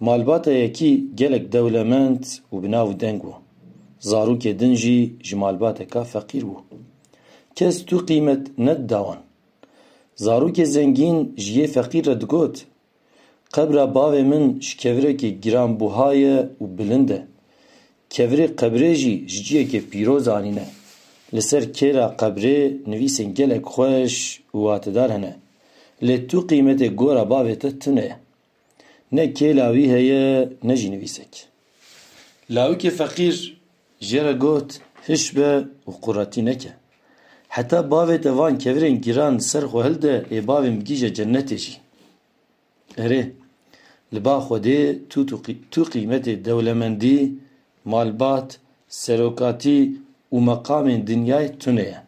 Malbata yekî gelek dewlemend û bi nav û deng bû. Zarokê din jî ji malbateka feqîr bû. Kes tu qîmet nedida wan. Zarokê zengîn ji yê feqîr re digot, Qebra bavê min ji kevirekê giranbuha ye û bilind e. Kevirê qebrê jî ji ciyekê pîroz anîne. Li ser kêla qebrê nivîsên gelek xweş û watedar hene. Lê tu qîmetê gora bavê te tune ye. Ne kêla wî heye ne jî nivîsek. Lawikê feqîr jê re got, Hiş be û quretî neke. Heta bavê te van kevirên giran li ser xwe hilde ê bavên bigihîje cennetê jî. Erê, li ba Xwedê tu tu qîmetê dewlemendî Malbat, serokatî û meqamên dinyayê tune ye.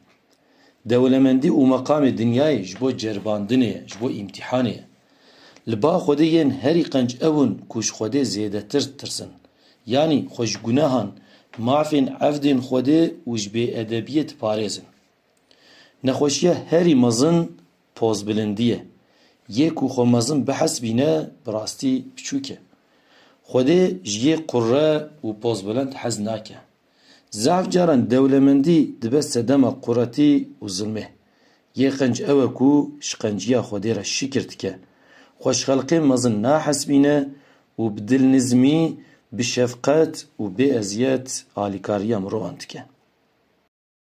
Dewlemendî û meqamê dinyayê ji bo ceribandinê ye, ji bo îmtîhanê ye. Li ba Xwedê yên herî qenc ew in ku ji Xwedê zêdetir ditirsin. Yanî xwe ji gunehan, mafên evdên Xwedê û ji bêedebiyê diparêzin. Nexweşiya herî mezin Pozbilindî ye. Yê ku xwe mezin bihesibîne bi rastî piçûk e. Xwedê ji yê qurre û pozbilind hez nake. Zaf caran dewlemendî dibe sedema quretî û zilmê. Yê qenc ew e ku ji qenciya xwedê re şikir dike. Xwe ji xelkê mezin nahesibîne û bi dilnizmî, bi şefqet û bê eziyet alîkariya mirovan dike.